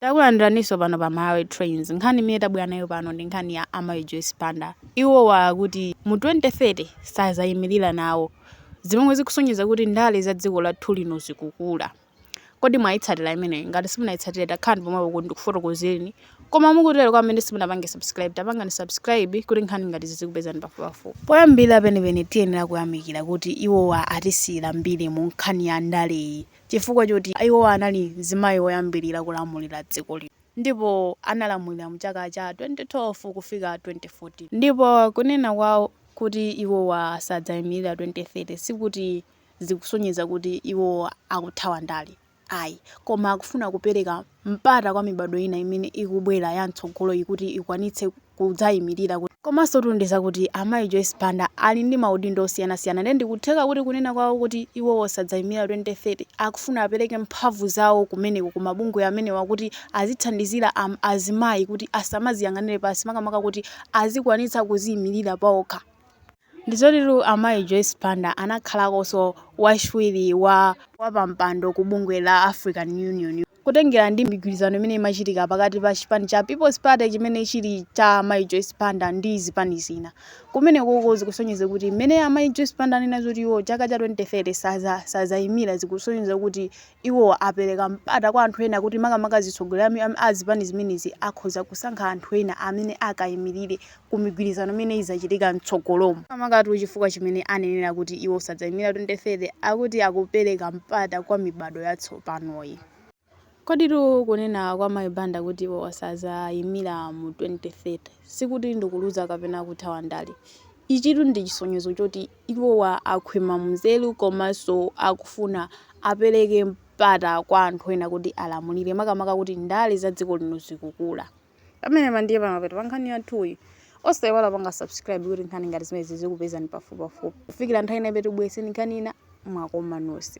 Takulandiraninso pano pa Malawi Trends. Nkhani imene tabwera nayo pano ndi nkhani ya a Mayi Joyce Banda. Iwowa akuti mu 2030 sadzayimirira nawo, zomwe zikusonyeza kuti ndale za dziko lathu lino zikukula. Kodi mwayitsatira imeneyi? Ngati simunayitsatire takhalani pomwepo kuti ndikufotokozereni. Koma mukutero kwa amene simunapange subscribe, tapangani subscribe kuti nkhani ngati izi zizikupezani pafupipafupi. Poyambirira penipeni tiyenera kuyamikira kuti iwowa atisiyira mbiri mu nkhani ya ndaleyi. Chifukwa choti iwowa anali mzimayi woyambilira kulamulira dziko lino ndipo analamulira mu chaka cha 2012 kufika 2014 ndipo kunena kwawo kuti iwowa sadzaimilira 2030 sikuti zikusonyeza kuti iwowa akuthawa ndale ayi koma akufuna kupereka mpata kwa mibadwo ina imene ikubwera ya mtsogoloyi kuti ikwanitse kudzayimirira. Komansotu ndi zakuti amayi Joyce Banda ali ndi maudindo osiyanasiyana ndiye ndikutheka kuti kunena kwawo kuti iwowo sadzayimirira 2030 akufuna apereke mphamvu zawo kumeneko ku mabungwe amenewa kuti azithandizira azimayi kuti asamaziyang'anire pansi makamaka kuti azikwanitsa kuziyimirira paokha. Ndizotitu a mayi Joyce Banda anakhalakonso wachiwiri wapampando ku bungwe la African Union. Kutengera ndi migwirizano imene imachitika pakati pa chipani cha People's Party chimene chili cha mayi Joyce Banda ndi zipani zina kumenekoko zikusonyeza kuti mmene a mayi Joyce Banda anena zoti iwo chaka cha 2030 sazaimira zikusonyeza kuti Iwo apereka mpata kwa anthu ena kuti makamaka azitsogoleri a zipani zimenezi akhoza kusankha anthu ena amene akayimirire ku migwirizano imene idzachitika m'tsogolomu. Makamakatu chifukwa chimene anenera kuti iwo sadzayimira 2030 akuti akupereka mpata kwa mibado yatsopanoyi. Zoditu kunena kwa Mayi Banda kuti iwo sadzayimira mu 2030 sikuti ndikuluza kapena kuthawa ndale. Ichitu ndi chisonyezo choti. Iwowa akhwima munzeru komanso akufuna apereke mpata kwa anthu ena kuti alamulire makamaka kuti ndale za dziko lino zikukula. Pamenepa ndiye pamapeto pa nkhani yathuyi. Osaiwala kupanga subscribe kuti nkhani ngati zimenezi zizikupezani pafupipafupi. Kufikira nthawi ina imene tibweretsereni nkhani ina, mwakoma nonse.